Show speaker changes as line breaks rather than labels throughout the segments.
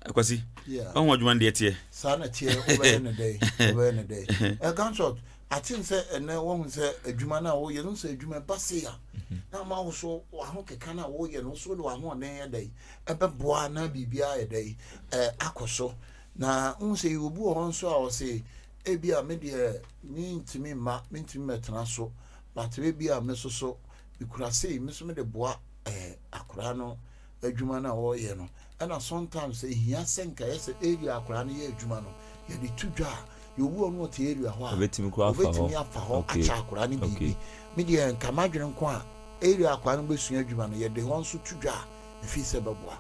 akwasi ɔho adwuma no deɛ teɛ saa na teɛ wobɛyɛ
no dɛn wobɛyɛ no dɛn ɛganshot aten sɛ ɛnɛ woahu sɛ adwuma no a woyɛ no sɛ adwuma ɛba se a na ama wo so waho keka no a woyɛ no so de wahoɔden yɛ dɛn ɛbɛboa na biribiaa yɛ dɛn akɔ so na wohu sɛ yɛwɔbu wɔ hɔ nso a ɔse ebi a medeɛ mentumi mma mentumi mɛtena so but ebi a mesoso mekura sei me nso mede boa ɛɛ eh, akwadaa no adwuma no a wɔreyɛ no ɛna sometimes ehia sɛ nka yɛ sɛ area akwadaa no yɛ adwuma no yɛde to dwa a yɛwu ɔno ɔte area hɔ a ɔbɛtumi afa
hɔ akyɛ
akwadaa no biribi me deɛ nka madwene nko a area akwadaa no bɛsua adwuma no yɛde hɔ nso to dwa a ɛfii sɛ bɛboa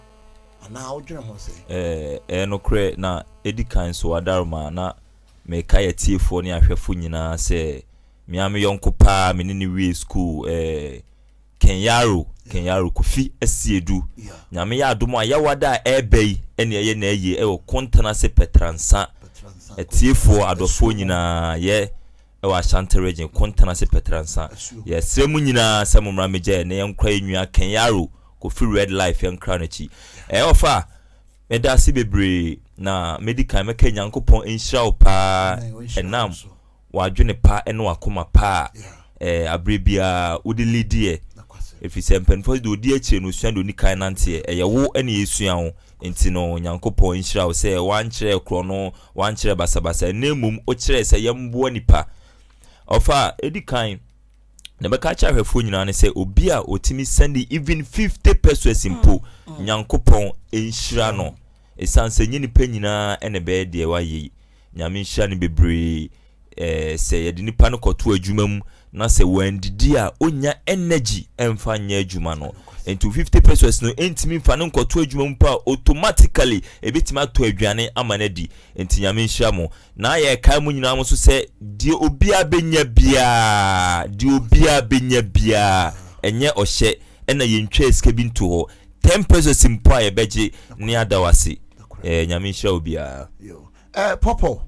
anaa wodwene ho sɛ ɛɛ eh, eh, nokorɛ na
ɛdi kan so adaroma na Merekae atiefoɔ ne ahwɛfo nyinaa sɛ me ara me yɔnko paa me ne no wiee sukuu ɛɛ Ken Yaro, Ken Yaro Kofi Asiedu. Nyame yɛ adom a Yawada a ɛreba yi ɛne ɛyɛ n'ayie ɛwɔ Kontanase Pɛtransa. Atiefoɔ, adɔfoɔ nyinaa yɛ ɛwɔ Ashanti Region, Kontanase Pɛtransa. Yɛsrɛ mo nyinaa sɛ mommra mmɛgya yɛn na yɛnkora yɛn nua Ken Yaro Kofi Red Life yɛnkora no akyi. Ɛɛ ɔfa! Meda ase bebree na medi kan mɛka Nyankopɔn nhyira wo paa ɛnam w'adwene pa ne w'akoma pa a ɛɛ aberɛ biara wode lidiɛ ɛfiri sɛ mpaninfoɔ se deɛ ɔdi akyire no ɔsua deɛ ɔni kan nanteɛ ɛyɛ wo ɛne yɛsua wo nti no Nyankopɔn nhyira wo sɛ wankyerɛ korɔ no wankyerɛ basabasa ɛnɛ mmom wokyerɛ sɛ yɛmboa nipa ɔfa ɛdi kan na ɛbɛka akyerɛ ahwɛfoɔ nyinaa ne sɛ obi a ɔtumi sɛnde even 50 pesos mpo mm. nyankopɔn nhyira no ɛsiane sɛ nyɛ nipa nyinaa ɛna ɛbɛyɛ deɛ wayɛ yi nyame nhyira no bebree eh, sɛ yɛde nipa no kɔto adwuma mu na sɛ wandidi a ɔnya energy ɛmfa nyɛ adwuma no nti 50 pesos no ɛntumi mfa no nkɔto adwuma mu pa automatically ɛbɛtumi atɔ aduane ama no adi nti nyame nhyira mo Na yɛkae mo nyinaa nso sɛ, deɛ obiara bɛnya biara, deɛ obiara bɛnya biara, ɛnyɛ ɔhyɛ, ɛna yɛntwaa sika bi nto hɔ, ten pesos mpo a yɛbɛgye ne ada wo ase. Eh, Nyame nhyira obiara. Yo. Eh, Pɔpɔ,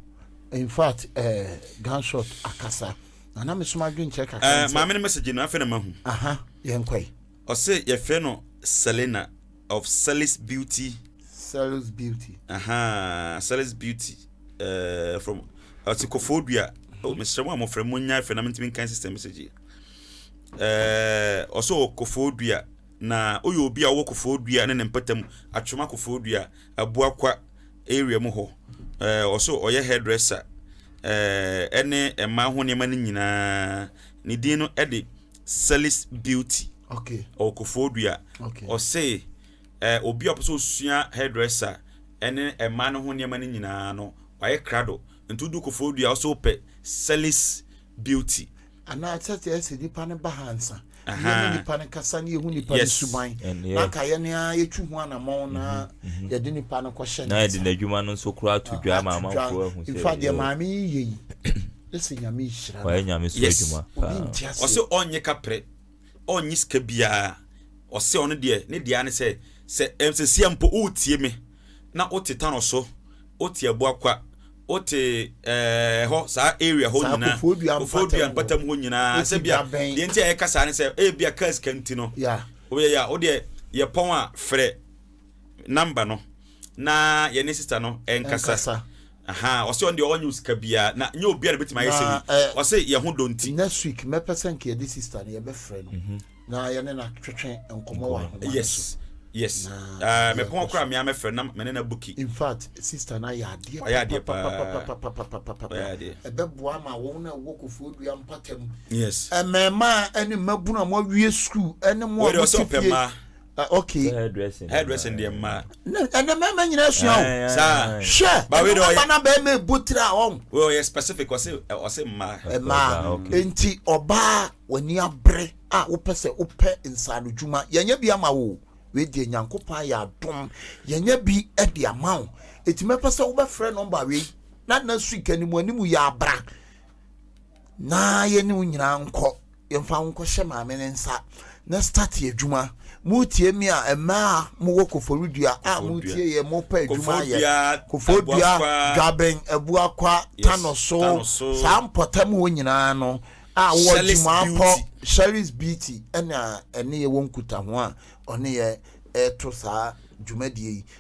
in fact, eh, Gunshot akasa. Na na meso m'adwen kyerɛ kakra Eh, nti. maame no message no, afei na
mahu. Aha, yɛnkɔe.
Ɔse
yɛfrɛ no Selena of Sellis Beauty. Sellis
Beauty. Ahaa, Sellis Beauty. Uh, from
ɔte Kofo Dua. Oh, mesrɛ mo a mofrɛ mo nya fɛ na mentumi nkan system message yi. Uh, ɔsɛ wɔ Kofo Dua na woyɛ obi a wɔ Kofo Dua ne ne mpɛtam atwoma Kofo Dua aboakwa area mu hɔ. Uh, ɔsɛ ɔyɛ hairdresser. Uh, ɛne mmaa ho nneɛma no nyinaa. Ne din no ɛde Sellis Beauty okay. ɔwɔ Kofoɔdua okay. ɔse eh, obi a ɔpɛ sɛ ɔsua hairdresser ɛne ɛmaa no ho nneɛma no nyinaa no wayɛ krado nti wodu Kofoɔdua ɔsɛ wopɛ Sellis Beauty anaa sɛdeɛ
ɛsɛ nipa no ba ha nsa yɛne nipa no kasa ne yɛhu nipa no suban anka yɛne a yɛtu ho anammɔn na mhm, mhm. yɛde nipa no kɔhyɛ na yɛde n'adwuma no nso
koraa to dwa ma amanfoɔ ahu sɛ mfa deɛ maame yi
yɛ yi Wayɛ nyame so adwuma paa.
Ɔse
ɔnnye kaprɛ, ɔnnye sika biaa, ɔse ɔno deɛ ne deɛ ara ne sɛ, sɛ ɛmsesia mpo woretie me na wote Tano so, wote Abuakwa, wote ɛɛɛ hɔ saa area hɔ nyinaa, Kofoɔdua mpatam hɔ nyinaa, sɛ bia deɛ nti a yɛka saa ne sɛ ebia kaa sika nti no, woyɛ yɛ a wodeɛ yɛpɔn a frɛ number no na yɛne sister no ɛnkasa. Ahaa ɔse ɔno deɛ ɔnyɛ osika biaa na nyɛ obia na obetumi ayɛ sɛ wei ɔse yɛ ho dɔ nti. Next week mɛpɛ sɛ
nka yɛde sister no yɛbɛfrɛ no na yɛne no atwetwe nkɔmɔ wɔ ahoma no so. Yes yes
mepɔn koraa meaa mɛfrɛ no na mene no abuki. Infact sister
no ayɛ adeɛ papapapapapapapapapapa ɛbɛboa ama wɔn a ɛwɔ kofoɔ dua mpatam, mmɛɛmaa
ne
mmabunu a mo awie sukuu ne mo a mote fie. Ah, okay. Sɛ hairdressing. Hairdressing
deɛ mmaa. Na ɛnɛ mmarima nyinaa
sua o. Ae, ae, Saa. ae. Hwɛ,
Ba wei ɛno de ɔyɛ- aba
na bɛrima
ebu tira
ɔn. Wei ɔyɛ specific ɔse
ɛ, ɔse mmaa. Ɛmaa ɔbaa, okay. nti
ɔbaa w'ani abere a wopɛ sɛ wopɛ nsaano dwuma yɛnyɛ bi ama wo o. wei deɛ Nyankopɔn ayɛ adom yɛnyɛ bi de ama wo nti mɛpɛ sɛ wobɛfrɛ nɔmba wei na next week animuanimu yɛ abra na yɛne wo nyinaa nkɔ yɛmfa nkɔhyɛ maame no nsa na start adwuma motie me a mmaa a mowɔ koforidua a motie yɛ mopɛ adwuma ayɛ koforidua dwaben abuakwa tano so saa mpɔtam hɔ nyinaa no a wɔ adwumaapɔ sherry's beauty ɛna ɛne yɛ wɔ nkutaho a ɔne yɛ ɛto saa dwumadie yi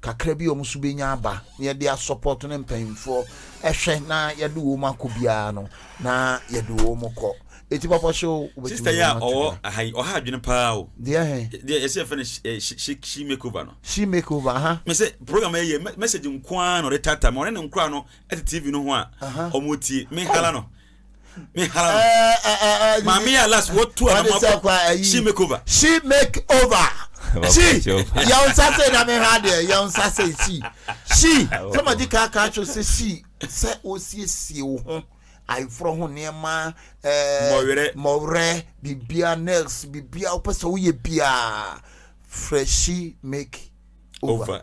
kakra bi a wɔn nso bɛnya aba na yɛde asɔpɔto ne mpanyinfoɔ ɛhwɛ na yɛde wɔn akɔ biara no na yɛde wɔn kɔ eti papa hyɛ o wobɛtumi sista yi a ɔwɔ
aha yi ɔha adwene paa o deɛ he deɛ yɛsɛ yɛfɛ
no eh, she
she she makeover no she makeover aha
me sɛ program ɛyɛ
message nko ara na ɔde tata ma ɔne ne nkora no ɛte tv no ho a ɔmo tie me hala no me hala no eh, eh, eh, eh, maame yɛ alas wɔtu wɔde anamɔ sɛ kwa ayi she make over she make over
she yɛn nsa sɛ na mehwɛ adeɛ yɛn nsa sɛ she she sɛ ma di kaa kaa kyerɛ sɛ she sɛ osiesie wo ho ayeforɔ ho nneɛma ɛɛ Mmɔwerɛ. mmɔwerɛ bibia nails bibia wopɛ sɛ woyɛ biaa frɛ she make over. over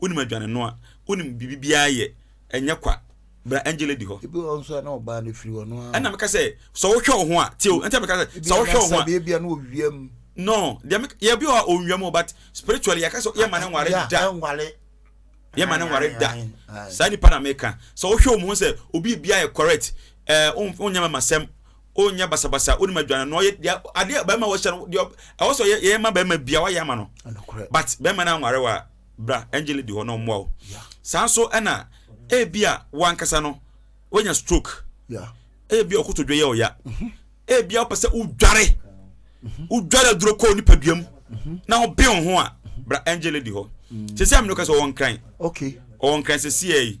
Wonim adwane noa, wonim biribi biara yɛ, ɛnyɛ kwa. Bra Angele di hɔ. Ebi wɔ hɔ nso a na ɔbaa no
firi hɔ noaa. Ɛna meka sɛ sɛ
wohwɛ wo ho a, tie o, ɛnti a meka sɛ sɛ wohwɛ wo ho a. Ebia na ɔwia mu.
No, deɛ meka,
yɛ bi wɔ hɔ a ɔnwia mu o, but spiritually yɛka sɛ yɛmma no nware da. Yeah, ɛnware. Yɛmma no nware da. Saa nipa na meka. Sɛ wohwɛ wɔn ho sɛ obi biara yɛ correct, ɛɛ, wonyɛ mɛmasɛm. ɔnyɛ basabasa ɔnim adwane no ɔyɛ deɛ adeɛ bɛrima wɔhyɛ no deɛ ɛwɔ sɛ ɔyɛ yɛyɛ ma bɛrima bia wayɛ ama no but bɛrima no anware wa bra angel di hɔ na ɔmmoa wo saa nso ɛna ebi a wankasa no wanya stroke ebi a ɔkotodwe yɛ ɔya mhm. ebi a wopɛ sɛ wodware mhm. wodware aduro kɔɔ nipaduam mhm. na wobɛn wo ho a bra angel di hɔ sɛ sɛ amene wokɛ sɛ ɔwɔ nkran ɔwɔ
nkran sɛ siɛ
yi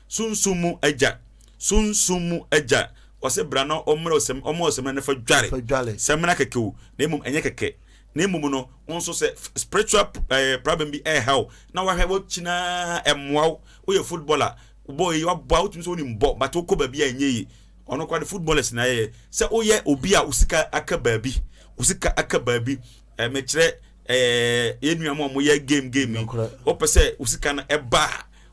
Sunsum mu Agya, Sunsum mu Agya, wɔse bra na ɔmmrɛ wo sɛm, ɔmma wo sɛmina no fa dware. Fa dware. Sɛmina kɛkɛ o, na mmom ɛnyɛ kɛkɛ. Na mmom no, wo nso sɛ spiritual eh, problem bi ɛreha wo, na wahwɛ w'akyi no ara ɛmmoa wo, woyɛ footballer, bɔɔl yi wabɔ a wotumi sɛ wonim bɔ, but wokɔ baabi a ɛnyɛ yie. Ɔno koraa de footballers na ayɛyɛ. Sɛ woyɛ obi a wo sika aka baabi, wo sika aka baabi, eh, mekyerɛ eh, yɛn nuanom a wɔyɛ game game yi, Nokorɛ. wopɛ sɛ wo sika no ɛba a,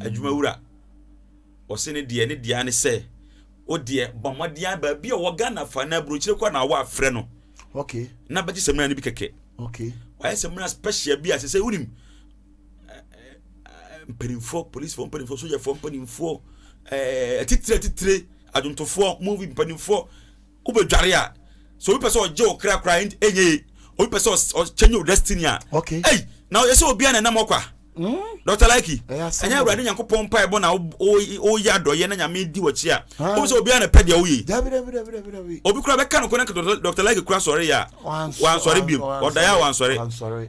adwuma wura, ɔse ne deɛ ne deɛ ne sɛ wo deɛ bɔ mmɔden a baabi a ɔwɔ Ghana fa na aburokyire kɔ na awɔ afrɛ no okay. na
bɛgye samina no bi
kɛkɛ okay. wayɛ
samina special
bi a sɛ sɛ wonim mpanimfoɔ policefoɔ mpanimfoɔ sojafoɔ mpanimfoɔ atitire atitire adwontofoɔ movie mpanimfoɔ wobɛdware a sɛ obi pɛ sɛ ɔgye wo kra koraa ɛnyɛ ye obi pɛ sɛ ɔkyɛnye wo destiny a ei na ɔyɛ sɛ obiara na ɛnam ɔkwa Dr. Laiki ɛnyɛ awurade nyankopɔn mpa ɛbɔ na woyɛ adɔyɛ na nyame di wɔkyi a wohu sɛ obiara na pɛ deɛ woye obi koraa bɛka no kɔ na Dr. Laiki koraa sɔre yɛ a wansɔre biom ɔdaeɛ a wansɔre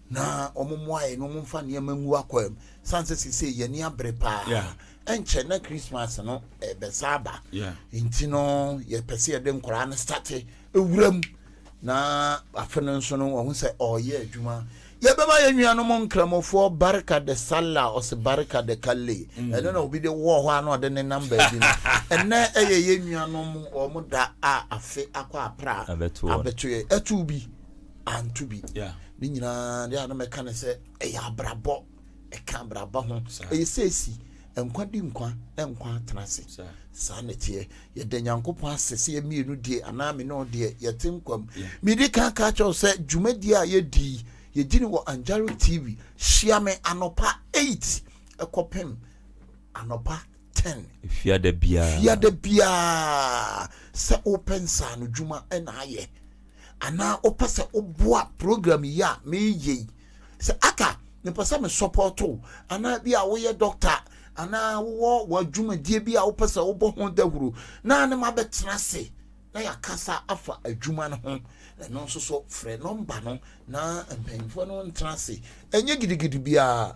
na wɔmmoa yɛn na wɔmfa nneɛma ngu akwaa mu sane sɛ seesei yɛn ani abere paa yeah. ɛnkyɛ na christmas no ɛbɛsa aba yeah. nti no yɛpɛ sɛ yɛde nkwaraa no state ɛwura mu na afe no nso no wɔn sɛ ɔyɛ adwuma yɛbɛma yɛn nuanom nkramofoɔ barika de sala ɔse barika de kalle mm. ɛno na obi de wɔ hɔ a na ɔde ne nam baabi no ɛnɛ ɛyɛ yɛn nuanom wɔn da a afe akɔ apra abɛtoɛ ɛto bi anto bi ne nyinaa deɛ a na mɛka ne sɛ ɛyɛ abrabɔ ɛka abrabɔ ho ɛyɛ sɛsi nkwa di nkwa nkwa atena ase saa na ɛteɛ yɛda nyankopɔn ase sɛ yɛmmienu deɛ anaa me ne ɔdeɛ yɛte nkwa mu mede ka ka kyɛw sɛ dwumadie a yɛdii yɛdi no wɔ anjaro tv hyia me anɔpa 8 ɛkɔpem anɔpa ten. Fiada biara.
Fiada biara sɛ wopɛ nsaano dwuma na ayɛ anaa wopɛ sɛ woboa program yi a meyɛ yi sɛ aka mepɛ sɛ me support wo anaa bi a woyɛ doctor anaa wowɔ w'adwumadie bi a wopɛ sɛ wobɔ ho dawuro na ne ma bɛtena ase na yɛakasa afa adwuma no ho ɛno nso so frɛ nɔmba no na mpanyinfoɔ no ntena ase ɛnyɛ gidigidi biara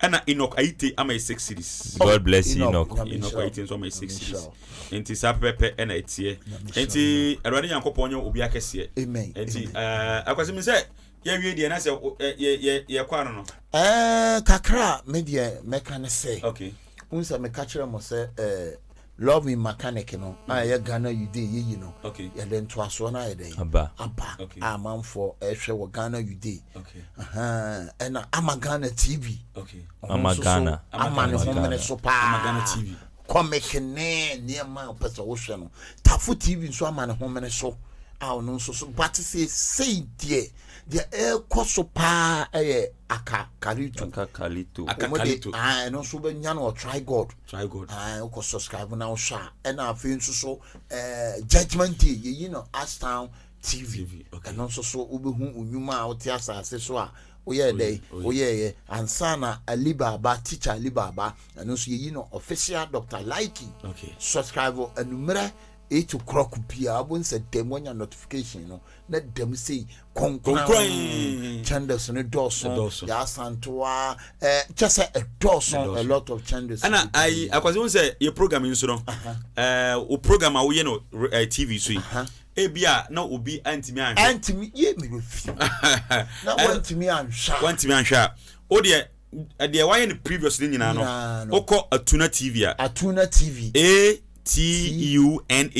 Ɛna Enoch
Ayite ama yɛ six cities. God bless you Enoch.
Enoch Ayite nso ama yɛ six
cities. Nti saa pɛpɛpɛ ɛna ɛteɛ. Nti Awurade Nyankopɔn nyɛ obi akɛseɛ. Amen. Nti
ɛɛ
akwasi mi sɛ yɛwie deɛ na sɛ yɛ yɛ yɛ kɔ ano no. Ɛɛ kakra
a me deɛ mɛka ne sɛ. Okay. N sɛ
meka kyerɛ
mo sɛ ɛɛ Love me Makanik no a ɛyɛ Ghana Yudeɛ yɛyi no yɛde ntoasoɔ
no ayɛ
dɛn aba a
amanfoɔ
ɛrehwɛ wɔ Ghana Yudeɛ
ɛna
Ama Ghana TV ɔno
nso so
ama ne ho mene
so paa
comic ne
nneɛma a wopɛ sɛ wohwɛ no Tafo TV nso ama ne ho mene so a ɔno nso so bate sɛ sei deɛ deɛ ɛrekɔ so paa ɛyɛ akakalito akakalito ɛno nso bɛnya no ɔtrae god Try God. Ae, wokɔ subscribe na wohwɛ a ɛna afei nso so eh, judgment day yɛyi no astown tv ɛno nso so wobɛhu nnwuma a wote asase so a woyɛɛ dɛ woyɛɛyɛ ansa na ali baaba teacher ali baaba ɛno nso yɛyi no official dr likey subscribe anummerɛ Eight o'clock biara bo nsɛ dɛm wanya notification no na dɛm sei kɔnkɔn chandles no dɔɔso yɛasantoa eh, kyɛ sɛ ɛdɔɔso a lot of chandles ɛna ayi akwasi wọn
sɛ yɛ program yi nso no eh, o program a woyɛ no eh, tv so yi ebi a na obi antumi anhwɛ antumi yie mi bɛ fi na wantumi anhwɛ wantumi anhwɛ a o deɛ deɛ wayɛ no previous no nyinaa no wokɔ atuna tv a atuna tv
a t-u-n-a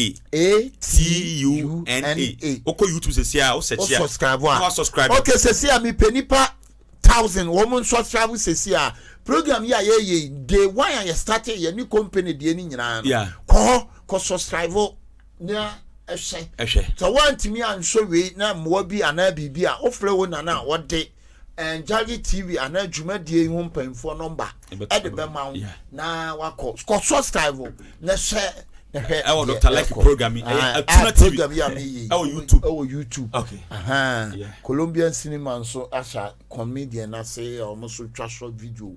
t-u-n-a wokɔ youtube sɛsi a wosɛkyi a subscribe a wasubscribe ok sɛsi a
mepɛ nipa thousand wɔn mo nsubscribe sɛsi a program yi a yɛyɛ yi day one a yɛ start yɛ ne company deɛ no nyinaa no kɔ hɔ kɔ subscribe na ɛhwɛ sɛ woantumi ansɔ wei na mmoa bi anaa biribi a wofrɛ wo nana a wɔde Ngyagye TV anaa dwumadie yi ho mpanyinfoɔ nɔmba ɛde bɛma wo na wakɔ kɔ subscribe o na hyɛ na hwɛ
ɛwɔ Dr. Lucky program yi ɛyɛ ah, Atuna ah, TV program yi a mi yi ɛwɔ YouTube ɛwɔ YouTube
okay
Colombian
cinema nso ahyɛ comedian ase a wɔn nso twa short video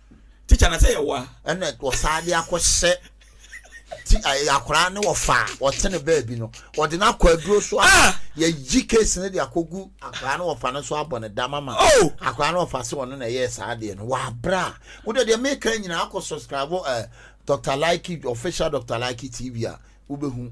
tikya na sɛ
yɛwɔ a. ɛna wɔsan de
akɔhyɛ ti akwaraa ne wɔfa a wɔte ne baabi no wɔde no akɔ aduro so a ah! yɛyi case no de akɔgu akwaraa ne wɔfa no so abɔ ne dam ama oh! akwaraa ne wɔfa sɛ ɔno na ɛyɛɛ saa adeɛ no wɔabrɛ a wode deɛ meka nyinaa akɔ subscribe eh, dr like official dr like tv a wobɛhu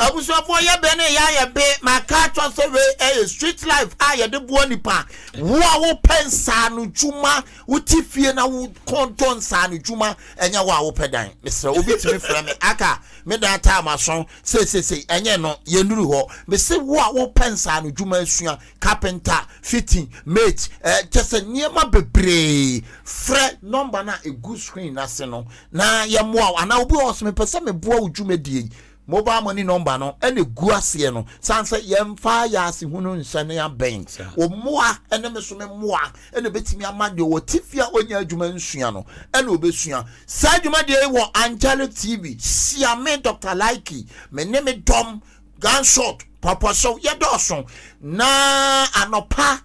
Abusuafoɔ yɛ bɛ ne yɛ ayɛ be ma kaa kyɔ sɛ wei ɛyɛ street life a yɛde boa nipa wo a wo pɛ nsaano dwuma wo te fie na wo kɔn dɔ nsaano dwuma ɛnyɛ wo a wo pɛ dan mesrɛ obi tumi frɛ me aka me dan time aso seisesei ɛnyɛ no yɛ nuru hɔ mese wo a wo pɛ nsaano dwuma asua carpenter fitting mate eh, kyɛ sɛ nneɛma bebree frɛ number no a ɛgu screen no ase no na yɛmmoa wo anaa obi wɔ hɔ sɛ mepɛ sɛ meboa wo dwumadie yi mobile money number no ɛna ɛgu aseɛ no sane sɛ yɛmfa yɛ asehunu nhyɛ ne abɛn wo mmoa ɛne me so me mmoa ɛna ɛbɛtumi ama deɛ wɔ tifi a ɔnya adwuma nsua no ɛna ɔbɛsua saa dwumadie yi wɔ angelic tv hyia me dr likey me ne me dɔm gunshot pɔpɔhyew yɛdɔɔso na anɔpa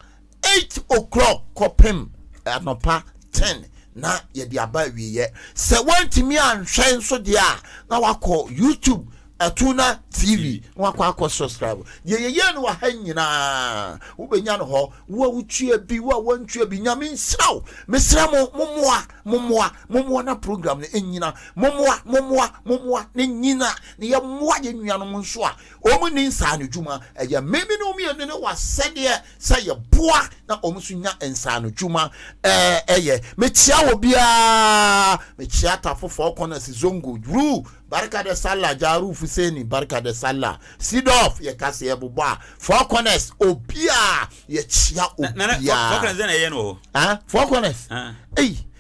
Eight o'clock kɔpem anɔpa ten na yɛde aba awieɛ. Sɛ woantumi anhwɛ nso deɛ a, na wakɔ YouTube Atuna TV na wakɔ akɔ subscribe. Deɛ yɛyɛ no wɔ ha nyinaa wobɛnya no hɔ. Wo a wotua bi, wo a woantua bi, Nyame nhyira wo. Mesrɛ mo, mommoa, mommoa, mommoa na program no ɛnyina. Mommoa, mommoa, mommoa na ɛnyina na yɛmmoa yɛn nuanom nso a wɔn nni nsaanodwuma. Ɛyɛ me me ne wo mmienu ne w'asɛdeɛ. sɛ yɛboa na wɔn nso nya nsaanodwuma eh, yɛ. Mekyia wɔ biara, mekyia Tafo Four Corners, Zongo, Ru, Barka de Sala, Jaru Fuseni, Barka de Sala, Sidorf, yɛka sɛ yɛbobɔ a, Four Corners, obiara, yɛkyia obiara. Four Corners,
eh? Four Corners,
ei,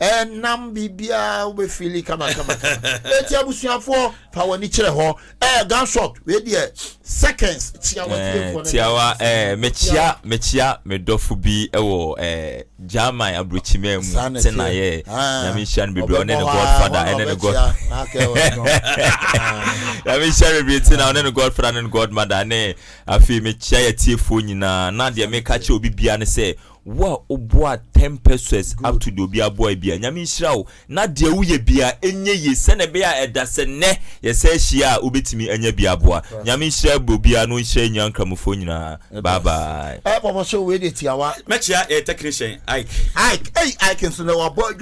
ɛnam
biribiara wobɛfili kamakamakama ɛti abusuafoɔ fa w'ani kyerɛ hɔ ɛɛ gunshot wei deɛ seconds tiawa eh, tiawa
eh, mekyia mekyia medɔfo bi ɛwɔ eh, german aburokyima mu te na yɛ ah. nyame nhyira no bebree ɔne ne godfather ɛne ne god nyame nhyira no bebree te na ɔne ne godfather ne ne godmother ne afei mekyia yɛ tiefoɔ nyinaa na deɛ meka kyerɛ obi bia ne sɛ Wo a wo boa ten peseus ato deɛ obi aboa biara, Nyame nhyira wo na deɛ wo yɛ biara ɛnyɛ yie sɛdeɛ ɛbɛyɛ a ɛda sɛ nnɛ yɛ san hyia a wo bɛtumi anya bi aboa. Nyame nhyira obiara na ɔnhyira Nyan! Nkramofoɔ nyinaa. Bye bye. Ɛɛ pɔpɔ show wei deɛ
tiawa. Mɛkyea yɛ technician
Ike. Ike ei
Ike nso nɛ wabɔ adwuma.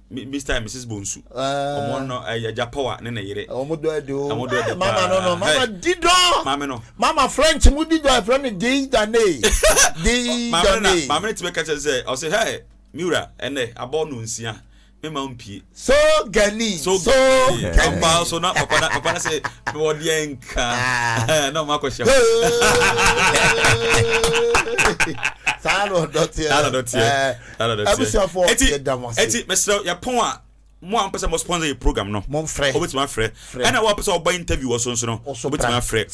Mr and Mrs Bonsu ɔmo ah. no eh, ɛgya power ne ne yere ɔmo dɔ ɛdi o ɔmo dɔ
ɛdi paa mama no no mama di dɔ maame no mama french mu di dɔ ɛfrɛ no dei dane dei
dane maame no ti bɛ kɛkyɛ sɛ ɔsɛ hɛ miwura ɛnɛ abɔ no nsia mema mpie so gani
so gani ɔmpa
so na papa na papa na sɛ mewɔ deɛ nka ah. na ɔmo akɔhyɛ hɔ
saa na ɔdɔ teɛ abusuafoɔ yɛda mo ase ɛti
mesrɛ yɛpɔn a mo a mpɛ sɛ mo sponsor yɛ program no momfrɛ wobɛtumi afrɛ
ɛna
wo a pɛ sɛ wɔbɔ interview wɔ so nso no wobɛtumi afrɛ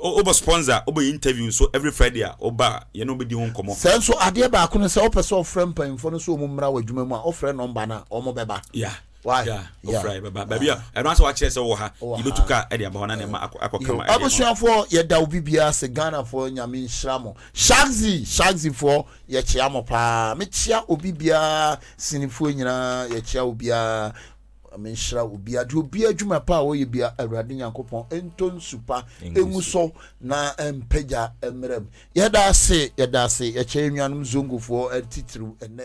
wobɔ sponsor wobɔ interview nso every friday a woba a yɛne wobɛdi ho nkɔmmɔ sɛ nso adeɛ baako no
sɛ wopɛ sɛ wɔfrɛ mpanyimfoɔ no sɛ wɔn mmra wɔ adwuma mu a wofrɛ nɔmba no a wɔbɛba yeah Why? Yeah, yeah. Ofra
bɛba baabi a ɛno asɛ wakyerɛ sɛ wɔ ha yɛbɛtu ka de aba hɔ na ne ma akɔ kama ɛdeɛ abusuafoɔ yɛda
obi biara ase ghanafoɔ nyame nhyira mo shagzi shagzifoɔ yɛkyea mo paa mekyea obi biara sinifoɔ nyinaa yɛkyea obiara menhyira obi ade obi adwuma pa a wɔyɛ bia awurade nyankopɔn ɛntɔ nsupa ɛngu so na mpagya mmerɛ m yɛda ase yɛda ase yɛkyɛ nnuanom zongofoɔ titiriw ɛnɛ